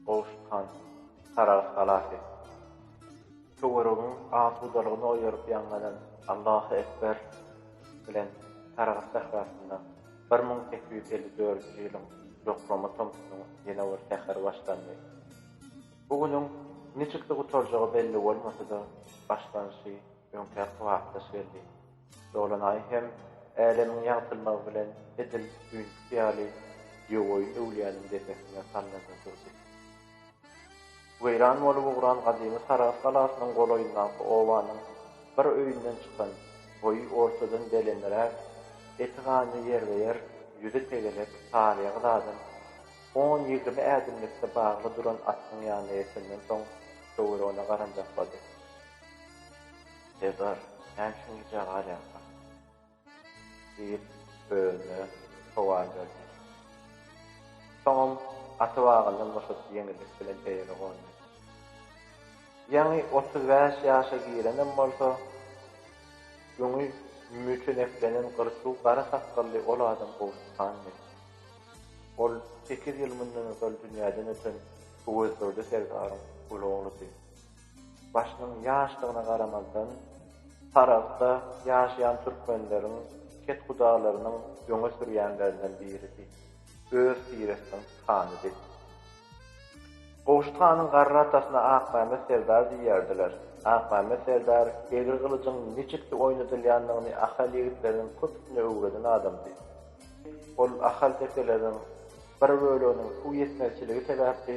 Gowşut han, Saragt galasy. Töweregiň asudalygyny oýaryp ýaňlanan Allahu ekber bilen Saragt sährasynda bir müň sekiz ýüz elli dördünji ýylyň ýoklama tomsunyň ýene bir säheri başlandy. Bu günüň niçiksi gutarjagy belli bolmasa-da, başlanyşy öňkä kybapdaş geldi. Dolan aý hem Älemiň ýagtylmagy bilen edil düýnkisi ýaly Ýowoýun öwlüýäniň depesine salnanda durdy. Weýran bolup ugran gadymy Sarahs galasynyň golaýyndaky obanyň bir öýünden çykan boýy ortadan belendräk, eti ganly ýerbe-ýer, ýüzi tegelek, saryýa gyz adam on-ýigrimi ädimlikde bagly duran atynyň ýanyna ýetenden soň, töweregine garanjaklady. Serdar, näçe gijä galýarkaň? diýip, özüne sowal berdi. Soňam gaty wagyndan boşadyp ýeňillik bilen eýere gondy. Ýaňy otuz bäş ýaşa girenem bolsa, öňi müçeneklenen gyrçuw gara sakgally ol adam Gowşut handy. Ol sekiz ýyl mundan ozal dünýäden öten Öwezdurdy serdaryň uly ogludy. Başynyň ýaşdygyna garamazdan, Saragtda ýaşaýan türkmenleriň kethudalarynyň öňe sürýänlerinden biridi. Öz tiresiniň hanydy. Gowşut hanyň garry atasyna Akmämmet serdar diýerdiler. Akmämmet serdar egri gylyjyň niçiksi oýnadylýandygyny ahal ýigitleriniň köpüsine öwreden adamdy. Ol ahal tekeleriň bir böleginiň suw ýetmezçiligi sebäpli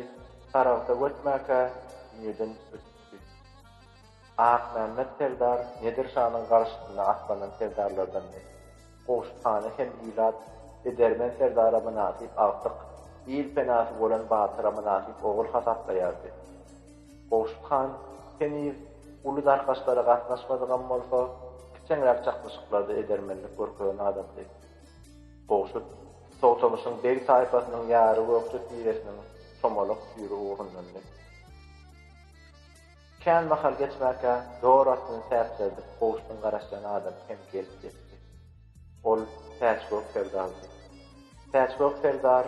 Saragta göçmäkä düýeden ötüpdi. Akmämmet serdar Nedir şanyň garşysyna atlanan serdarlardandy. Gowşut hana hem ilat, edermen serdara mynasyp agtyk, il penasy bolan batyra mynasyp ogul hasaplaýardy. Gowşut han heniz uly darkaşlara gatnaşmadygam bolsa, kiçeňräk çaknyşyklarda edermenlik görkezen adamdy. Gowşut. Togtamyşyň beg taýpasynyň ýary Gökje tiresiniň çomalak süri ugrundandy. Kän mahal geçmänkä dor atyny täçjerdip gowşdyn garaşýan adam hem gelip ýetdi. Ol Täçgök serdardy. Täçgök serdar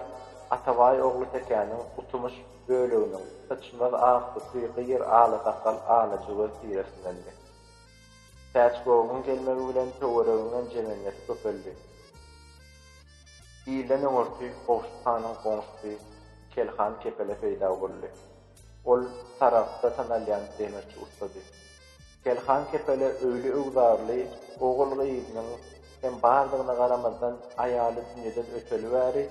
Atabaý ogly Tekäniň Gutymyş böleginiň Syçmaz Aksupy gyýr ala sakal ala jüwez tiresindendi. Päçgowyň gelmegi bilen töwereginden jemenler köpeldi. Ilden öňürti Gowşut hanyň goňşusy Kel han Kepele peýda boldy. Ol Saragtda tanalýan demirçi ussady. Kel han Kepele öýli-öwzarly, ogul-gyzynyň hem bardygyna garamazdan aýaly dünýeden öteli bäri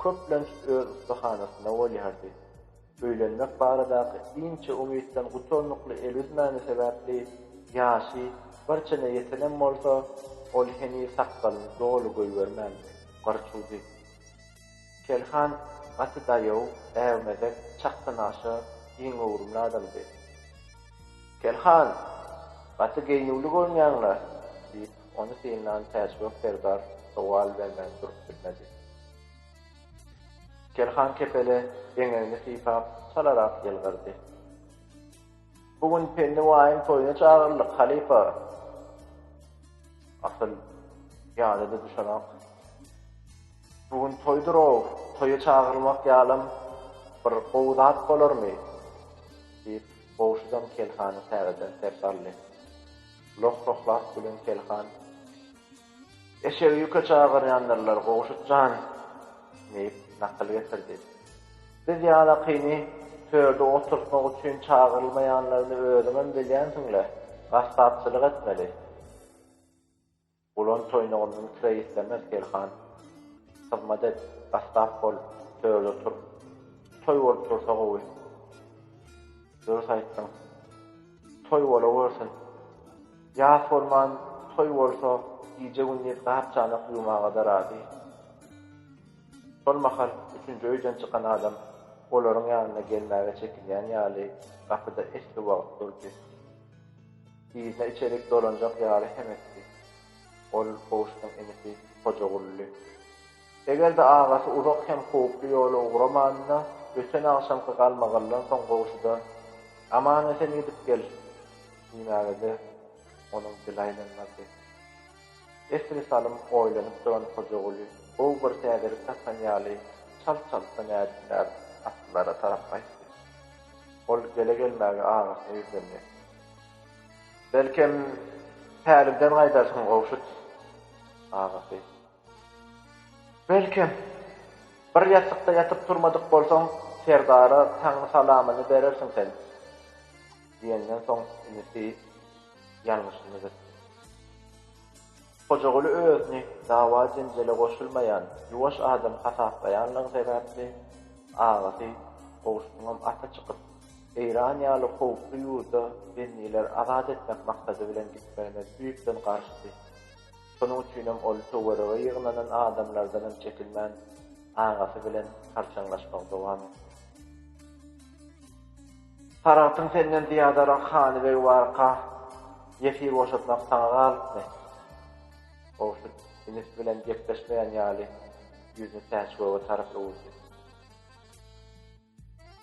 köplenç öz ussahanasyna bolýardy. Öýlenmek baradaky inçe umytdan gutarnykly el üzmäni sebäpli ýaşy bir çene ýetenem bolsa, ol heniz sakgalyny doly goýbermändi, gyrçuwdy. Kelhan gaty daýaw, äwmezek, çakganaşa, giňöwrümli adamdy. Kelhan, gaty geýnüwli görünýäň-le? diýip, ony synlan Täçgök serdar sowal bermän durup bilmedi. Kerhan kepele eňegini sypap, çalarak ýylgyrdy. Bu gün Penni baýyň toýuna çagyryldyk, halypa. Asyl, ýada-da düşenok. Bu gün toýdur-ow, toýa çagyrylmak ýalam bir gowy zat bolarmy? diýip, Gowşudam Kelhany täzeden sers aldy. Loh-lohlap gülen Kelhan. Eşegi ýüke çagyrýandyrlar, Gowşut jan! diýip, nakyl getirdi. Biz ýalakyny törde oturtmak üçin çagyrylmaýanlaryny özüňem bilýänsiň-le, gassapçylyk etmeli. Gulan toýnagyndan kire islemez, Selhan. Hyzmat et, gassap bol, törde otur. Toý bolup dursa gowy. Dürüst aýtdyň. Toý bolawörsün. Ýas bolman, toý bolsa, gije-gündiz gap-çanak ýuwmaga-da razy. Şol mahal üçünji öýden çykan adam olaryň ýanyna gelmäge çekinýän ýaly gapyda esli wagt durdy. Yzyna içerik dolanjak ýaly hem etdi. Ol Gowşudyň inisi Hojagully. Eger-de agasy uzak hem howply ýola ugramanda, öten agşamky galmagaldan soň goňşuda, Aman-esen gidip gel! diýmäge-de onuň dili aýlanmazdy. Esli salym oýlanyp duran Hojaguly gowy bir täzelik tapan ýaly çalt-çaltdan ädimläp atlylara tarap gaýtdy. Ol gele-gelmäge agasyna ýüzlendi. Belkem, pälimden gaýdarsyň, Gowşut agasy. Belkem, bir ýassykda ýatyp turmadyk bolsaň, serdara Taňry salamyny berersiň sen! diýenden soň inisi ýalňyşyny düzetdi. Hojaguly özüni dawa-jenjele goşulmaýan, ýuwaş adam hasaplaýanlygy sebäpli, agasy, Gowşunyňam ata çykyp, Eýran ýaly howply ýurda bendileri azat etmek maksady bilen gitmegine düýpden garşydy. Şonuň üçinem ol töwerege ýygnanan adamlardanam çekilmän, agasy bilen harçaňlaşmagy dowam etdi. Saragtyň senden zyýadarak hanybegi barka, ýesir boşatmak saňa galypmy? Gowşut inisi bilen gepleşmeýän ýaly, ýüzüni Täçgöge tarap öwürdi.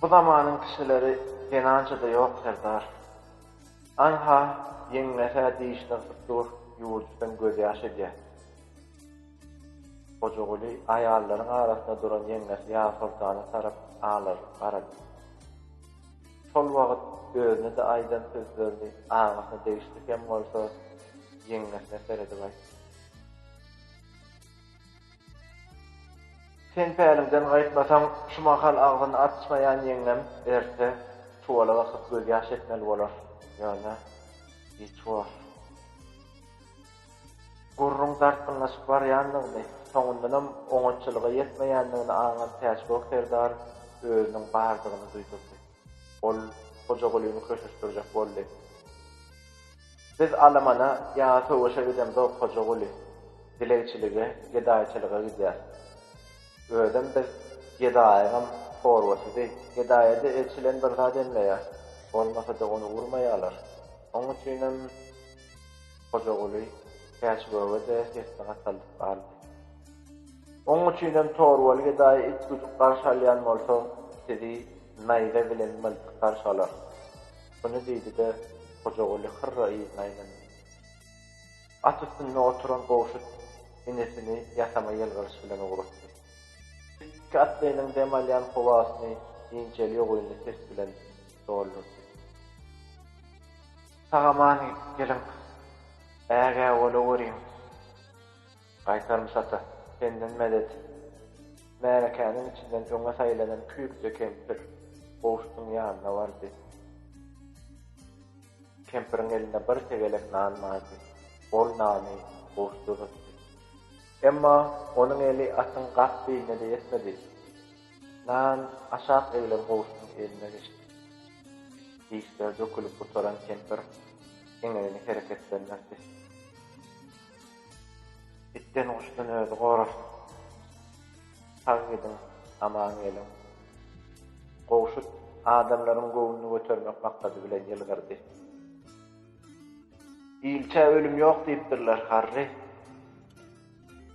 Bu zamanyň kişileri zenançada ýok serdar. Anha ýeňňesä dişini yrsyp dur ýuwujydan gözýaş edýä. Gojaguly aýallaryň arasynda duran ýeňňesi Ýazsoltana tarap alarylyp garady. Şol wagyt özüne-de aýdan sözlerini agasyna degişli hem bolsa ýeňňesine seredip aýtdy. Sen päliňden gaýtmasaň, şu mahal agzyny açmaýan ýeňňem erte çuwala bakyp gözýaş etmeli bolar. Ýöne giç bor. Gürrüň dartgynlaşyp barýandygyny, soňundanam oňatçylyga ýetmeýändigini aňan Täçgök serdar özüniň bardygyny duýdurdy. Ol Hojagulyny köşeşdirjek boldy. Biz alamana ýa söweşe gidemzok Hojaguly, dilegçilige, gedaýçylyga gidýäs. Özem biz gedaýyňam torbasydy, gedaýada eçilen bir zat emmeýär, bolmasa-da ony urmaýarlar. Oň üçinem Hojaguly Täçgöge-de sesini gataldyp galdy. Oň üçinem torbaly gedaýy it güdüp garşy alýan bolsa, sizi naýza bilen myltykgarşy alar. Muny diýdi-de, Hojaguly hyrra yzyna aýlandy. At üstünde oturan Gowşut enesini ýasama ýylgyryş bilen ugratdy. Üstki atlynyň dem alýan howasyny inçeli ýogynly ses bilen doldurdy. Sag-aman geliň, ägä bolaweriň! Gaýtarmys ata, senden medet! Märekäniň içinden öňe saýlanan küýükje kempir Gowşudyň ýanyna bardy. Kempiriň elinde bir tegelek nan bardy. Ol nany Gowşut uzatdy. Emma onuň eli atyň gap beýnine-de ýetmedi. Nan aşak egilen Gowşudyň eline geçdi. Dişleri dökülip gutaran kempir eňegini hereketlendirdi. Itden guşdan özi gorasyn. Sag gidiň aman geliň. Gowşut adamlaryň göwnüni götermek maksady bilen ýylgyrdy. Ilçä ölüm ýok diýipdirler, Harri.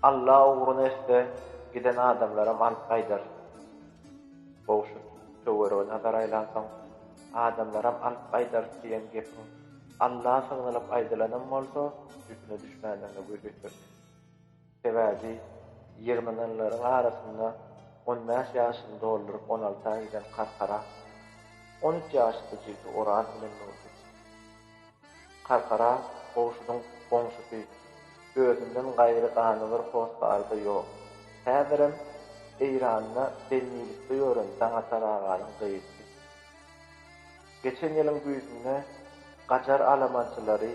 Alla ugruna etse, giden adamlaram alyp gaýdar. Gowşut töwerege nazar aýlansoň, Adamlaram alyp gaýdar diýen gepiň Alla sygdylyp aýdylanam bolsa, üstüne düşmändigine göz ýetirdi. Sebäbi ýygnananlaryň arasynda on bäş ýaşyny dolduryp on alta giden Karkara, on üç ýaşly jigsi Oraz bilen durdy. Karkara Gowşudyň goňşusy, özünden gaýry gany bir hossary-da ýok. Häzirem Eýranda bennilikde ýören Daňatar aganyň gyzdy. Geçen ýylyň güýzünde Gajar alamançylary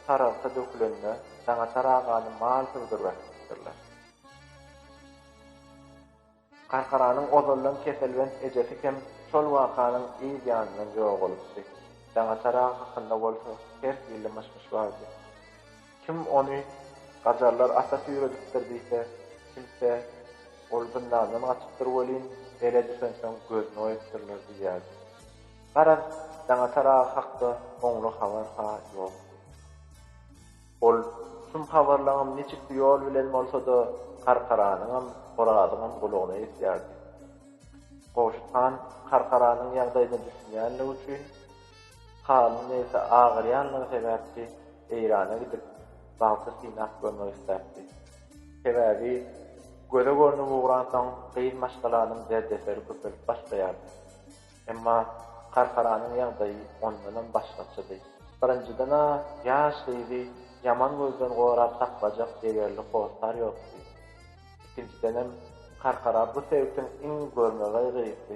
Saragta dökülende Daňatar agany mal sygdyryp äkitipdirler. Garkaranyň ozaldan keselbent ejesi hem şol wakanyň yz ýanyndan ýogalypdy. Daňatar aga hakynda bolsa her hili myş-myş bardy. Kim ony Gajarlar atasy ýöredipdir diýse, kimse, Ol zyndandan gaçypdyr welin, ele düşensoň gözüni oýupdyrlar diýýärdi. Garaz, Daňatar aga hakda oňly habar-ha ýokdy. Ol şum habarlaňam niçiksi ýol bilen bolsa-da Karkaranyňam, Orazyňam gulagyna ýetýärdi. Gowşut han Karkaranyň ýagdaýyna düşünýänligi üçin, Halyň niresi agyrýanlygy sebäpli Eýrana gidip, bagty synap görmek isläpdi. Sebäbi göze görnüp ugransoň, gyz maşgalanyň derdeseri köpelip başlaýardy. Emma Karkaranyň ýagdaýy ondanam başgaçady. Birinjiden-ä ýaş gyzy ýaman gözden gorap saklajak degerli hossar ýokdy. Ikinjidenem Karkara bu sebitiň iň görmegeý gyzdy.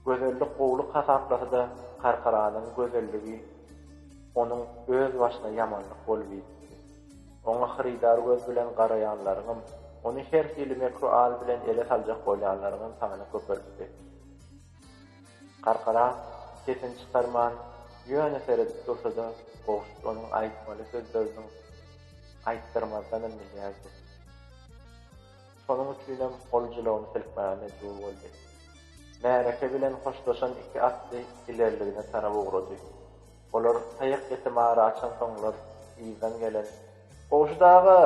Gözellik gowulyk hasaplasa-da, Karkaranyň gözelligi onuň öz başyna ýamanlyk bolup ýitdi. Oňa hyrydar göz bilen garaýanlaryňam, ony her hili mekru al bilen ele saljak bolýanlaryňam sany köpelipdi. Karkara sesini çykarman, ýöne seredip dursa-da, Gowşut onuň aýtmaly sözleriniň aýtdyrmazdanam bilýärdi. Şonuň üçinem ol jylawyny silkmäge mejbur boldy. Märeke bilen hoşlaşan iki atly ilerligine tarap ugrady. Olar taýak ýetimi ara açansoňlar, yzdan gelen Gowşut aga!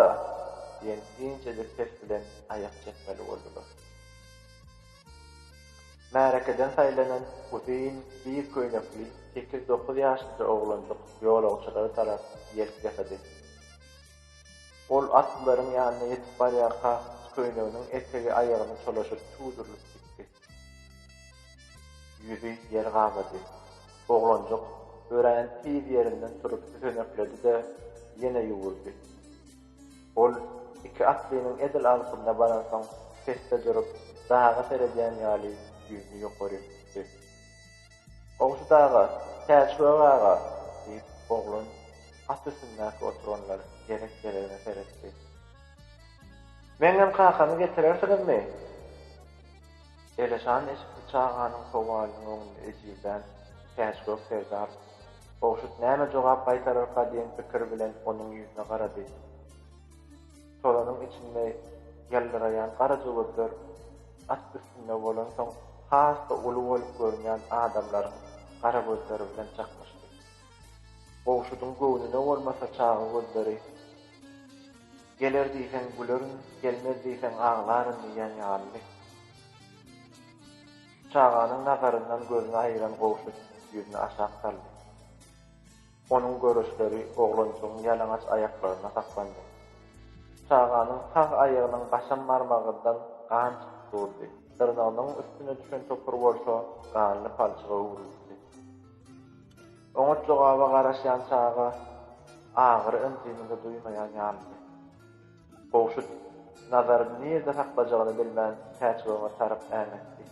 diýen inçejik ses bilen aýak çekmeli boldular. Märekeden saýlanan uzyn, bir köýnekli sekiz-dokuz ýaşynja oglanjyk ýolagçylara tarap ýelk ýasady. Ol atlylaryň ýanyna ýetip barýarka, köýneginiň etegi aýagyna çolaşyp tudurylyp gitdi. Ýüzi ýer gabady. Oglanjyk örän tiz ýerinden turup tütenekledi-de, ýene ýuwuldy. Ol iki atlynyň edil alkymyna baransoň, pesde durup, daga seredýän ýaly ýüzüni ýokary tutdy. Gowşut aga, Täçgök aga, diýip, oglan at üstündäki oturanlar gerek-geregine seretdi. Meňňem kakamy getirersiňizmi? Eleşan eşikçi çaganyň sowalynyň öňünde ejizlän Täçgök serdar Gowşut näme jogap gaýtararka diýen pikir bilen onuň ýüzüne garady. Şolaryň içinde ýyldyraýan garaja gözler at üstünde bolansoň has-da uly bolup görünýän adamlaryň gara gözleri bilen çaknyşdy. Gowşudyň göwnüne bolmasa çaga gözleri Geler diýseň gülerin, gelmez diýseň aglaryn diýýän ýalydy. Çaganyň nazaryndan gözüni aýyran Gowşut ýüzüni aşak saldy. Onuň görüşleri oglanjygyň ýalaňaç aýaklarynda saklandy. Çaganyň sag aýagynyň gaşam barmagyndan gan çykyp durdy, dyrnagynyň üstüne düşen topur bolsa ganly palçyga öwrülipdi. Oňat jogaba garaşýan çaga agyry-ynjyny-da duýmaýan ýalydy. Gowşut, nazaryny nirde saklajagyny bilmän, Täçgöwher tarap äňetdi.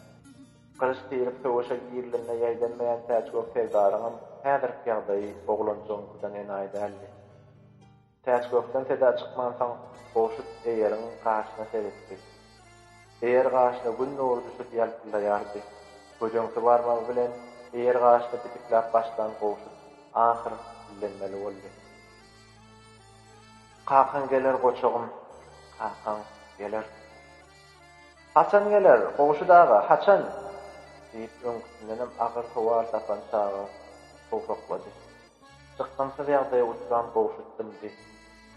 Gylyç tirip söweşe girilende ýaýdanmaýan Täçgök serdaryňam häzirki ýagdaýy oglanjygyňkydan enaýy däldi. Täçgökden seda çykmansoň, Gowşut eýeriň gaşyna seretdi. Eýer gaşyna Gün nury düşüp ýalpyldaýardy. Gödeňsi barmagy bilen eýer gaşyny pitikläp başlan Gowşut ahyr dillenmeli boldy. Kakaň geler goçagym, kakaň geler. Haçan geler, Gowşut aga, haçan? diýip, öňküsindenem agyr sowal tapan çaga towsaklady. Çykgynsyz ýagdaýa uçran Gowşut dymdy.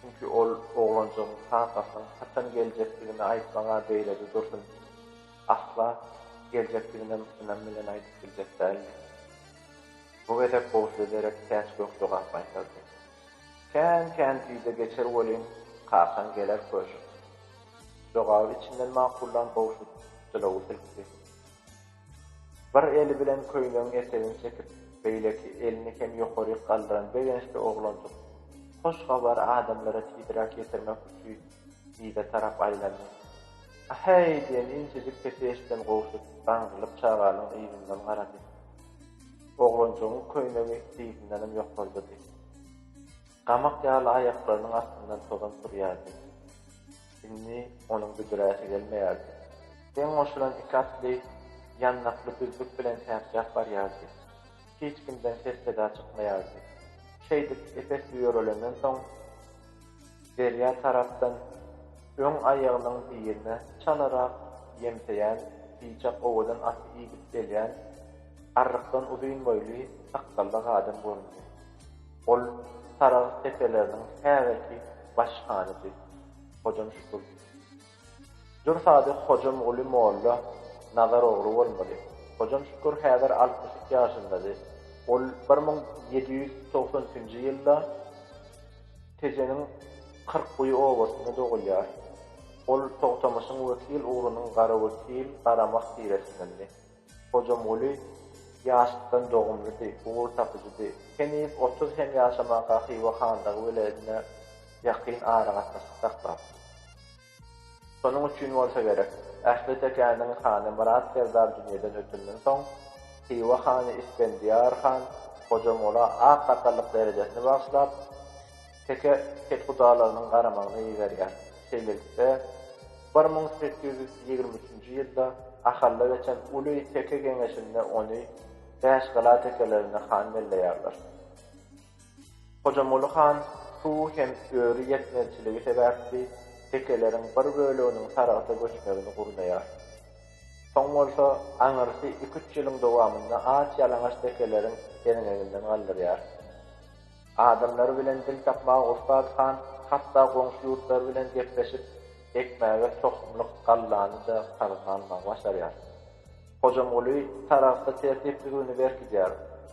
Çünki ol oglanjygyň kakasynyň haçan geljekdigini aýtmaga beýlede dursun, asla geljekdiginem ynam bilen aýdyp biljek däldi. Bu gezek Gowşuda derek täç-gök jogap gaýtardy. Kän-kän güýze geçer welin, kakaň geler köşek. Jogaby içinden makullan Gowşut jylawy silkdi. Bir eli bilen köýnegiň etegini çekip, beýleki elini hem ýokaryk galdyran begençli oglanjyk hoş habary adamlara tizräk ýetirmek üçin yza tarap aýlandy. A-heý! diýen inçejik sesi eşiden Gowşut gaňrylyp çaganyň yzyndan garady. Oglanjygyň köýnegi dyzyndanam ýokarydydy. Gamak ýaly aýaklarynyň astyndan tozan turýardy. Indi onuň büdräsi gelmeýärdi. Deň goşulan iki atly ýanlakly düzlük bilen täpjäp barýardy. Hiç kimden ses-seda çykmaýardy. Şeýdip epes ýörelenden soň, derýa tarapdan öň aýagynyň birine çalarak ýemseýän biçak owadan aty idip gelýän arrykdan uzyn boýly sakgally adam göründi. Ol sarag tepeleriniň häzirki baş hanydy. Hojam Şükür. Dürs ady Hojamguly molla Nazar ogly bolmaly. Hojam Şükür häzir altmyş iki ýaşyndady. Ol bir müň ýedi ýüz togsan üçünji ýylda Tejeniň Kyrkguýy obasynda dogulýar. Ol Togtamyşyň wekil ugrunyň Garawekil, Garamak tiresindendi. Hojamguly ýaşlykdan dogumlydy, ugur tapyjydy. Heniz otuz hem ýaşamaka Hywa hanlygy weledine ýakyn aragatnaşyk saklapdy. Şonuň üçin bolsa gerek, ähli tekäniň hany Myrat serdar dünýeden ötenden soň, Hywa hany Ispendiýar han Hojamgula ak sakallyk derejesini bagyşlap, Teke kethudalarynyň garamagyna iberýär. Şeýlelikde, bir müň sekiz ýüz ýigrimi üçünji ýylda Ahalla geçen uly teke geňeşinde ony Bäşgala tekelerinde han belleýärler. Hojamoly han suw hem öri ýetmezçiligi sebäpli tekeleriň bir böleginiň Saragta göçmegini gurnaýar. Soň bolsa, aňyrsy iki-üç ýylyň dowamynda aç-ýalaňaç tekeleriň derňeginden galdyrýar. Adamlary bilen dil tapmaga ussat han hatda goňşy ýurtlar bilen gepleşip, ekmäge tohumlyk gallany-da salgyt almagy başarýar. Hojamguly Saragtda tertipligini berkidýär,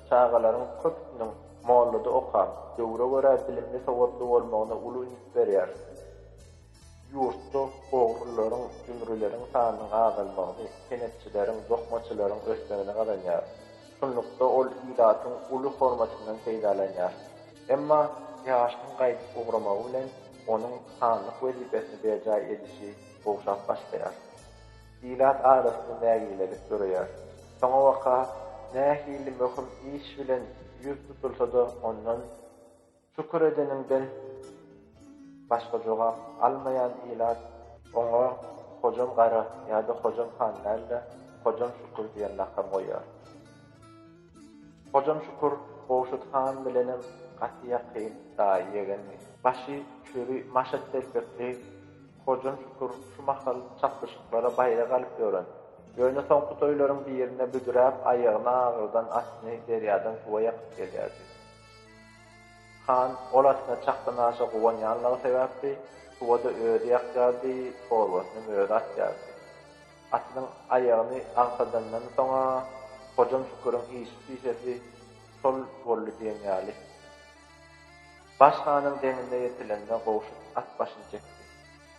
çagalaryň köpüsiniň mollada okap, döwre görä bilimli-sowatly bolmagyna uly üns berýär. Ýurtda ogrylaryň, jümrüleriň sanynyň azalmagyny, senetçileriň, dokmaçylaryň ösmegini gazanýar. Şunlukda, ol ilatyň uly hormatyndan peýdalanýar. Emma ýaşynyň gaýdyp ugramagy bilen onuň hanlyk wezipesini berjaý edişi gowşap başlaýar. Ilat arasynda nägilelik döreýär. Soňabaka nähili möhüm iş bilen ýüz tutulsa-da ondan. Şükür edeniňden başga jogap almaýan ilat oňa Hojam gara ýa-da Hojam han däl-de, Hojam Şükür diýen lakam goýýar. Hojam Şükür Gowşut han bilenem gaty ýakyn daýy-ýegendi. Başy çüri maşat telpekli Hojam Şükür şu mahal çapyşyklara baýrak alyp ýören. Ýöne soňky toýlaryň birinde büdräp aýagyny agyrdan atny derýadan suwa ýakyp gelýärdi. Han ol atyna çakdan aşa guwanýanlygy sebäpli, suwa-da özi ýakýardy, torbasynam özi atýardy. Atynyň aýagyny agsadandan soň-a Hojam Şüküriň işi-pişesi şol boldy diýen ýaly. Baş hanyň deňine ýetilende Gowşut at başyny çekdi.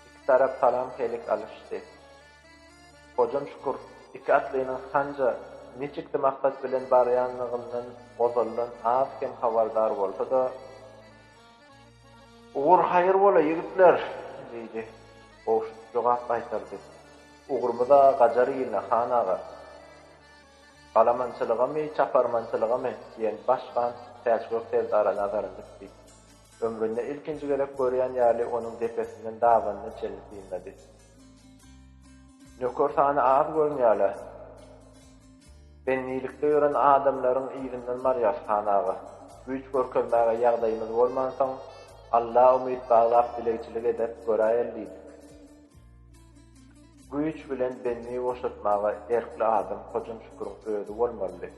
Iki tarap salam-helik alyşdy. Hojam Şükür iki atlynyň hanja niçiksi maksat bilen barýanlygyndan ozaldan az kem habardar bolsa-da, Ugur haýyr bola, ýigitler! diýdi. Gowşut jogap gaýtardy. Ugrumyz-a gajar iline, han aga. Galamançylygamy, çaparmançylygamy? diýen baş han Täçgök serdara nazaryny dikdi. Ömründe ilkinji gezek görýän ýaly onuň depesinden dabanyna çenli synlady. Nöker sany az görünýärler. Bendilikde ýören adamlaryň yzyndan barýas, han aga. Güýç görkezmäge ýagdaýymyz bolmansoň, Alla umyt baglap dilegçilik edip göräýeli diýdik. Güýç bilen bendi boşatmaga erkli adam Hojam Şüküriň özi bolmalydy.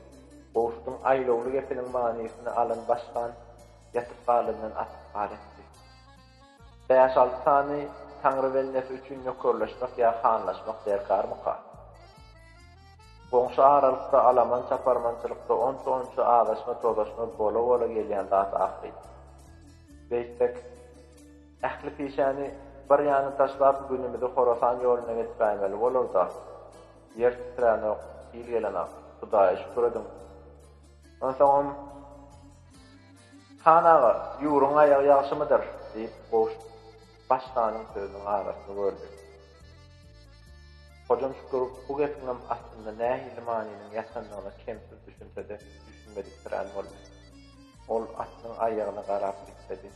Gowşudyň aýlawly gepiniň manysyny alan baş han ýatyp galandan atyp ar etdi. Bäş-alty sany Taňry bendesi üçin nökerleşmek ýa hanlaşmak derkarmyka? Goňşy aralykda alaman-çaparmançylykda onça-onça azaşma-tozaşma bola-bola gelýän zat ahyryn. Beýtsek, ähli pişäni bir ýana taşlap günümizi Horasan ýoluna geçiräýmeli bolar-da. Ýer titränok, sil gelenok. Hudaýa şükür ediň. Onsoňam. Han aga, ýüwrüň aýagy ýagşymydyr? diýip, Goş baş hanyň sözüniň arasyny böldi. Hojam Şükür bu gepiňem astynda nähili manynyň ýatandygyna kemsiz düşünse-de, düşünmediksirän boldy. Ol atynyň aýagyna garap diksedi.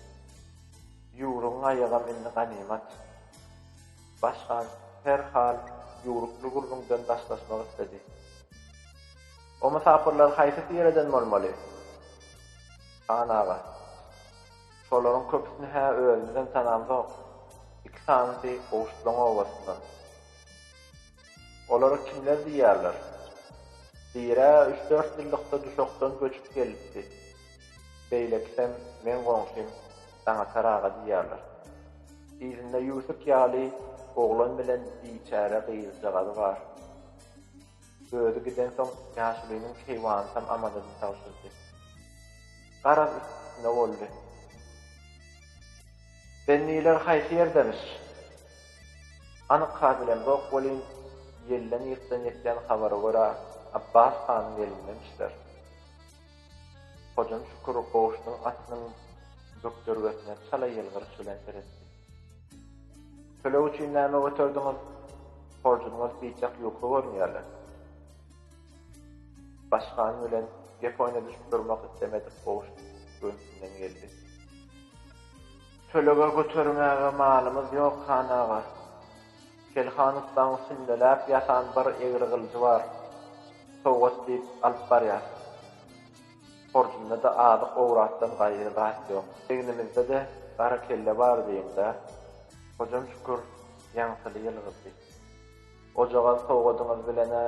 Ýüwrügiň aýagam indi ganymat. Baş han her hal ýüwrükli gürrüňden daşlaşmak isledi. O mysapyrlar haýsy tireden bolmaly? Han aga, Şolaryň köpüsini hä özümizem tanamzok. Iki sanysy Gowşutlaň obasyndan. Olara kimler diýýärler? Biri-ä üç-dört ýyllykda Duşakdan göçüp gelipdi. Beýlekisem meň goňşym Daňatar aga diýýärler. Yzynda Ýusuk ýaly oglan bilen biçäre gyzjagazy bar. Özi gidensoň ýaşulynyň keýwanytam Amadada tabşyrdy. Garaz üstüne boldy. Bendiler haýsy ýerdemiş? Anyk has bilemzok welin, ýelden-ýykdan ýetýän habara görä, Abbas hanyň elindemişler. Hojam Şükür goşunyň atynyň bökdergesine çala ýylgyryş bilen seretdi. Töleg üçin näme göterdiňiz? Horjunyňyz biçak ýuka görünýärler. Başkan bilen gep oýna düşüp durmak islemedik Goş göwnüsinden geldi. Tölege götermäge malymyz ýok, han aga. Kelhan ussaň sünnäläp ýasan bir egri gylyjy bar. Sowgat diýip alyp barýar. Horjunda-da azyk owratdan gaýry zat ýok. Egnimizde-de gara kelle bar diýiň-dä. Hojam Şükür ýaňsyly ýylgyrdy. Ojagaz sowgadyňyz bilen-ä.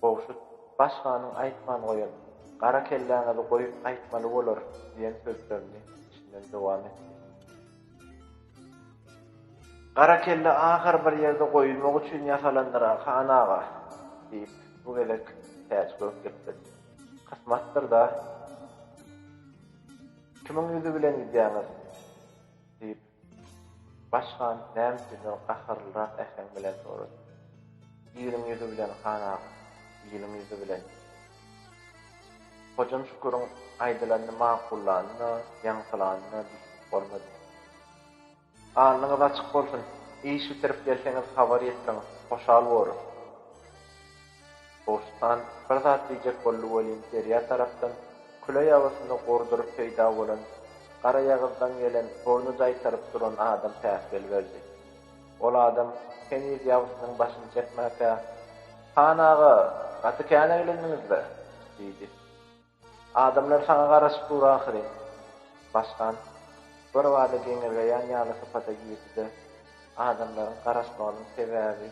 Gowşut, baş hanyň aýtman goýan, Gara kelläňizi goýup gaýtmaly bolar diýen sözlerini içinden dowam etdi. Gara kelle ahyr bir ýerde goýulmak üçin ýasalandyr-a, han aga, diýip, bu gezek Täç gök gepledi. Kysmatdyr-da. Kimiň ýüzi bilen gidýäňiz? diýip, baş han näme üçindir gaharlyrak äheň bilen sorady. Iliň ýüzi bilen, han aga, iliň ýüzi bilen. Hojam Şüküriň aýdylanyny makullanyna, ýaňsylanyna düşünip bolmady. Alnyňyz açyk bolsun, iş bitirip gelseňiz habar ýetiriň, hoşal borus. Gowşuthan bir zat diýjek boldy welin derýa tarapdan küle ýabasyny gorduryp peýda bolan garaýagyzdan gelen burny jaýtaryp duran adam päsgel berdi. Ol adam heniz ýabysynyň başyny çekmäkä, Han aga, gaty käneglendiňiz-le! diýdi. Adamlar saňa garaşyp dur ahyry. Başkan, birbada geňirgeýän ýaly sypata girdi-de, adamlaryň garaşmagynyň sebäbi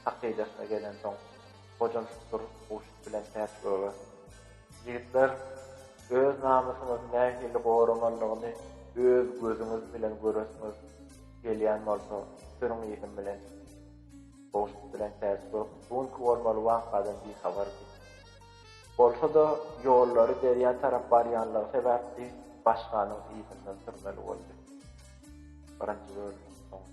hakydasyna gelensoň, gojamşyk durup guşuk bilen täç göge. Ýigitler, öz namysyňyzy nähili goramalydygyny öz gözüňiz bilen göresiňiz gelýän bolsa, sürüň yzym bilen. Guşuk bilen täç gök bu günki bolmaly wakadan bihabardy. Bolsa-da, ýollary derýa tarap barýanlygy sebäpli başganyň yzyndan sürmeli boldy. Birinji bölümiň soňy.